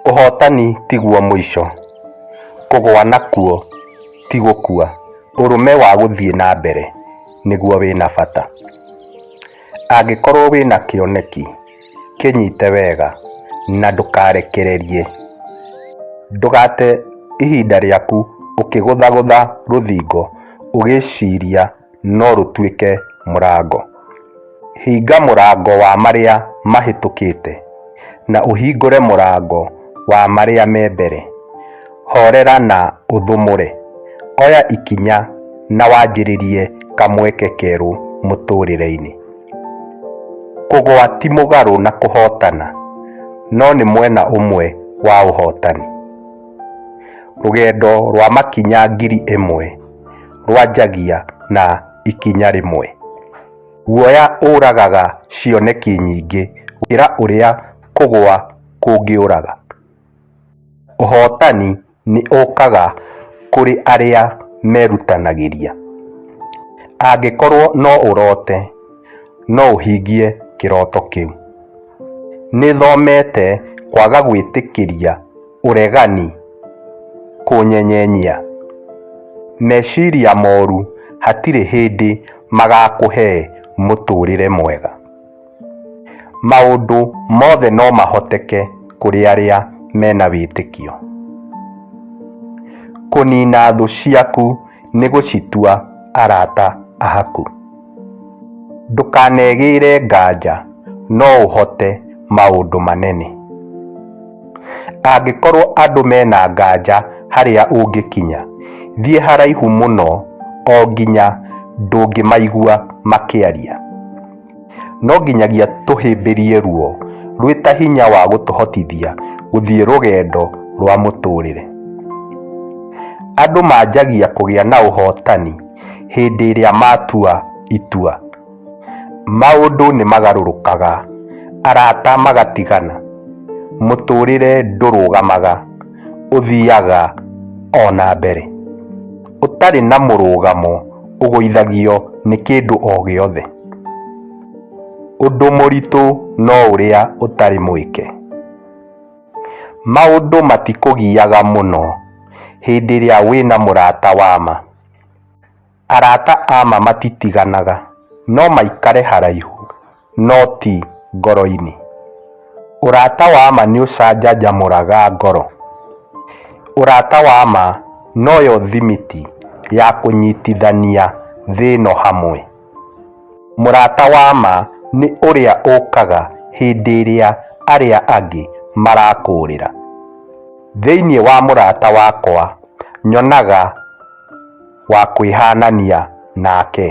Ũhootani tiguo mũico, kũgũa nakuo ti gũkua, ũrũme wa gũthiĩ na mbere nĩguo wĩ na bata. Angĩkorwo wĩ na kĩoneki, kĩnyite wega na ndũkarekererie. Ndũgate ihinda rĩaku ũkĩgũthagũtha rũthingo ũgĩciria. no rũtuĩke mũrango. Hinga mũrango wa marĩa mahĩtũkĩte, na ũhingũre mũrango wa marĩa me mbere. Horera na ũthũmũre. Oya ikinya na wanjĩrĩrie kamweke kerũ mũtũũrĩre-inĩ. Kũgũa ti mũgarũ na kũhootana, no nĩ mwena ũmwe wa ũhootani. Rũgendo rwa makinya ngiri ĩmwe. rwanjagia na ikinya rĩmwe. Guoya ũragaga cioneki nyingĩ gũkĩra ũrĩa kũgwa kũngĩũraga. Ũhootani nĩ ũkaga kũrĩ arĩa merutanagĩria. Angĩkorũo no ũrote, no ũhingie kĩroto kĩu. Nĩ thomete kwaga gwĩtĩkĩria ũregani, kũnyenyenyia, meciria moru hatirĩ hĩndĩ magakũhe mũtũrĩre mwega. Maũndũ mothe no mahoteke kũrĩ arĩa mena wĩtĩkio. Kũnina thũ ciaku nĩ gũcitua arata aku. Ndũkanegĩĩre nganja no ũhote maũndũ manene. Angĩkorwo andũ mena nganja harĩa ũngĩkinya, thiĩ haraihu mũno o nginya ndũngĩmaigua makĩaria. No nginyagia tũhĩmbĩrie ruo rwĩ ta hinya wa gũtũhotithia gũthiĩ rũgendo rwa mũtũrĩre. Andũ manjagia kũgĩa na ũhotani. hĩndĩ ĩrĩa matua itua. Maũndũ nĩ magarũrũkaga, arata magatigana, mũtũũrĩre ndũrũgamaga, ũthiaga o na mbere. Ũtarĩ na mũrũgamo ũgũithagio nĩ kĩndũ o gĩothe. Ũndũ mũritũ no ũrĩa ũtarĩ mwĩke. Maũndũ matikũgiaga mũno hĩndĩ ĩrĩa wĩna mũrata wa ma. Arata a ma matitiganaga, no maikare haraihu, no ti ngoro-inĩ. Ũrata wa ma nĩ ũcanjamũraga ngoro. Ũrata wa ma noyo thimiti ya kũnyitithania thĩ ĩno hamwe. Mũrata wa ma nĩ ũrĩa ũkaga hĩndĩ ĩrĩa arĩa angĩ marakũũrĩra. Thĩinĩ wa mũrata wakwa nyonaga wa kwĩhanania nake.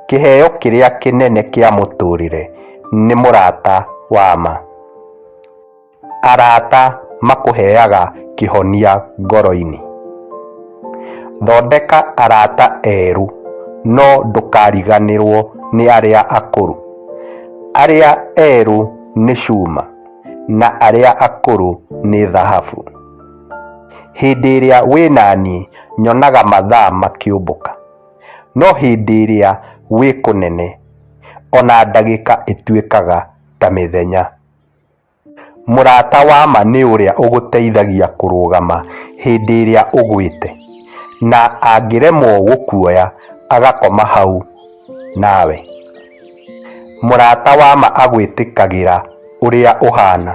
Kĩheo kĩrĩa kĩnene kĩa mũtũrĩre nĩ mũrata wa ma. Arata makũheaga kĩhonia ngoro-inĩ. Thondeka arata erũ, no ndũkariganĩrũo nĩ arĩa akũrũ. Arĩa erũ nĩ cuma, na arĩa akũrũ nĩ thahabu. Hĩndĩ ĩrĩa wĩ na niĩ, nyonaga mathaa makĩũmbũka, no hĩndĩ ĩrĩa wĩ kũnene, o na ndagĩka ĩtuĩkaga ta mĩthenya. Mũrata wa ma nĩ ũrĩa ũgũteithagia kũrũgama hĩndĩ ĩrĩa ũgwĩte, na angĩremwo gũkuoya agakoma hau nawe. Mũrata wa ma agwĩtĩkagĩra ũrĩa ũhaana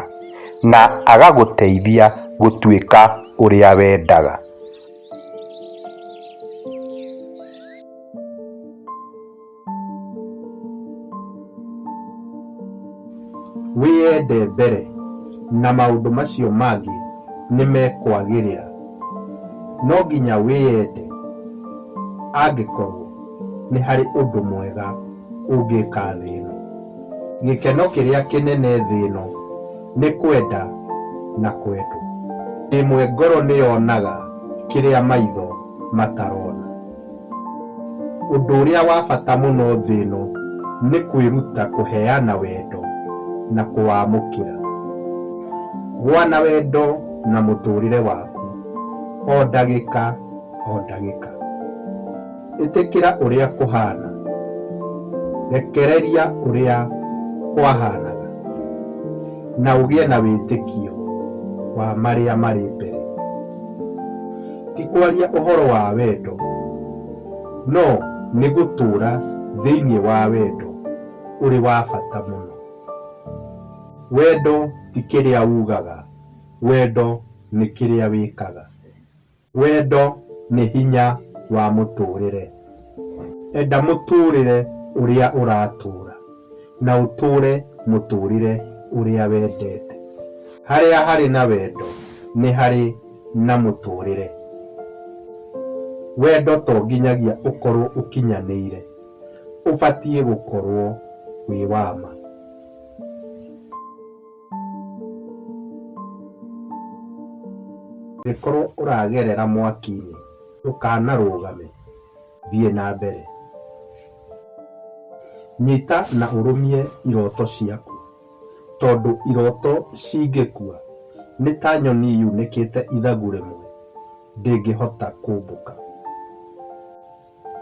na agagũteithia gũtuĩka ũrĩa wendaga. Wĩyende mbere, na maũndũ macio mangĩ nĩ mekwagĩrĩra. No nginya wĩyende angĩkorũo nĩ harĩ ũndũ mwega ũngĩka thĩ ĩno. Gĩkeno kĩrĩa kĩnene thĩ ĩno nĩ kwenda na kwendwo. Ĩmwe ngoro nĩ yonaga kĩrĩa maitho matarona. Ũndũ ũrĩa wa bata mũno thĩ ĩno nĩ kwĩruta kũheana wendo na kũwamũkĩra. Gũa na wendo na mũtũũrĩre waku o ndagĩka o ndagĩka. Ĩtĩkĩra ũrĩa kũhaana. Rekereria ũrĩa kwahaanaga na ũgĩe na wĩtĩkio wa marĩa marĩ mbere. Ti kwaria ũhoro wa wendo, no nĩ gũtũũra thĩinĩ wa wendo ũrĩ wa bata mũno. Wendo ti kĩrĩa ugaga, wendo nĩ kĩrĩa wĩkaga. Wendo nĩ hinya wa mũtũũrĩre. Enda mũtũũrĩre ũrĩa ũratũũra, na ũtũũre mũtũũrĩre ũrĩa wendete. Harĩa harĩ na wendo nĩ harĩ na mũtũũrĩre. Wendo to nginyagia ũkorũo ũkinyanĩire, ũbatiĩ gũkorũo wĩ wa ma. Angĩkorũo ũragerera mwaki-inĩ. Ndũkanarũgame, thiĩ na mbere. Nyita na ũrũmie iroto ciaku, tondũ iroto cingĩkua, nĩ ta nyoni yunĩkĩte ithagu rĩmwe, ndĩngĩhota kũmbũka.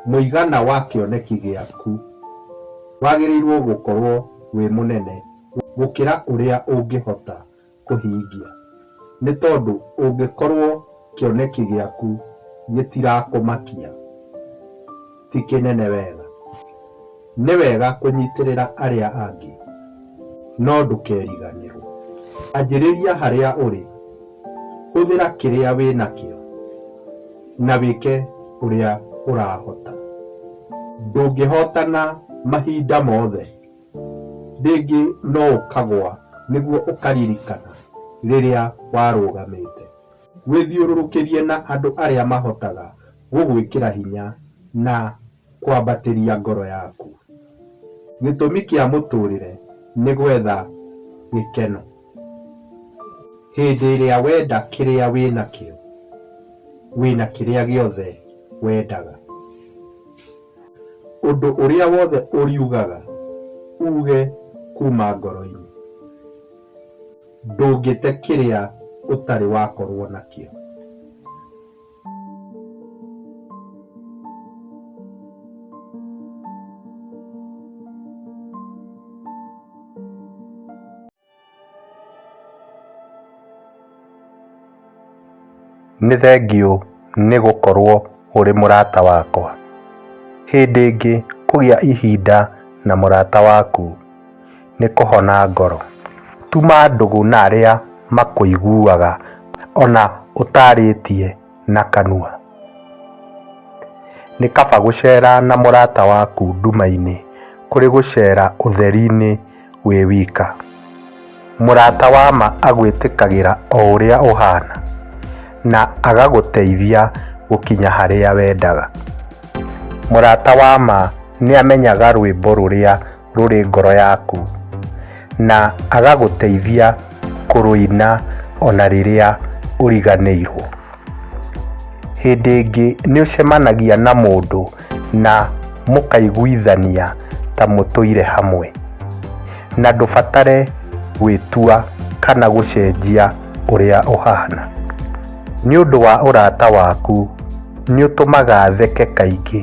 Mũigana wa kĩoneki gĩaku wagĩrĩirũo gũkorũo wĩ mũnene gũkĩra ũrĩa ũngĩhota kũhingia. Nĩ tondũ ũngĩkorũo kĩoneki gĩaku gĩtirakũmakia ti kĩnene wega, nĩ wega kũnyitĩrĩra arĩa angĩ, no ndũkeriganĩrũo. Anjĩrĩria harĩa ũrĩ, hũthĩra kĩrĩa wĩ nakĩo, na wĩke ũrĩa ũrahota. Ndũngĩhotana mahinda mothe. Rĩngĩ no ũkagũa nĩguo ũkaririkana rĩrĩa warũgamĩte. Wĩthiũrũrũkĩrie na andũ arĩa mahotaga gũgwĩkĩra hinya na kwambatĩria ngoro yaku. Gĩtũmi kĩa mũtũũrĩre nĩ gwetha gĩkeno. Hĩndĩ ĩrĩa wenda kĩrĩa wĩ nakĩo, wĩ na kĩrĩa gĩothe wendaga. Ũndũ ũrĩa wothe ũriugaga uge kuma ngoro-inĩ, ndũngĩte kĩrĩa ũtarĩ wakorwo nakĩo. Nĩ thengiũ nĩ gũkorũo ũrĩ mũrata wakwa. Hĩndĩ ĩngĩ kũgĩa ihinda na mũrata waku. nĩ kũhona ngoro. Tuma ndũgũ na arĩa makũiguaga o na ũtaarĩtie na kanua. Nĩ kaba gũceera na mũrata waku nduma-inĩ kũrĩ gũceera ũtheri-inĩ wĩ wika. Mũrata wa ma agwĩtĩkagĩra o ũrĩa ũhaana na agagũteithia gũkinya harĩa wendaga. Mũrata wa ma nĩ amenyaga rwĩmbo rũrĩa rũrĩ ngoro yaku, na agagũteithia kũrũina o na rĩrĩa ũriganĩirũo. Hĩndĩ ĩngĩ nĩ ũcemanagia na mũndũ na mũkaiguithania ta mũtũire hamwe, na ndũbatare gwĩtua kana gũcenjia ũrĩa ũhana. Nĩ ũndũ wa ũrata waku, nĩ ũtũmaga theke kaingĩ.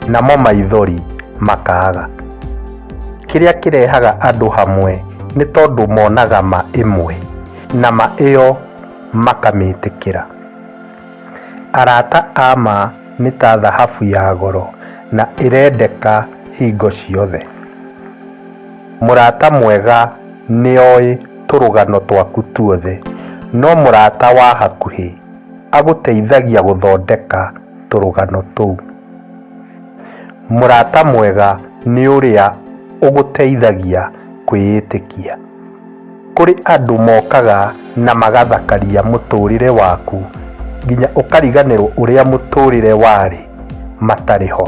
namo maithori makaaga. Kĩrĩa kĩrehaga andũ hamwe nĩ tondũ monaga ma ĩmwe na ma ĩyo makamĩtĩkĩra. Arata a ma nĩ ta thahabu ya goro na ĩrendeka hingo ciothe. Mũrata mwega nĩ oĩ tũrũgano twaku tuothe, no mũrata wa hakuhĩ agũteithagia gũthondeka tũrũgano tũu. Mũrata mwega nĩ ũrĩa ũgũteithagia kwĩĩtĩkia. Kũrĩ andũ mokaga na magathakaria mũtũũrĩre waku nginya ũkariganĩrũo ũrĩa mũtũũrĩre warĩ matarĩ ho.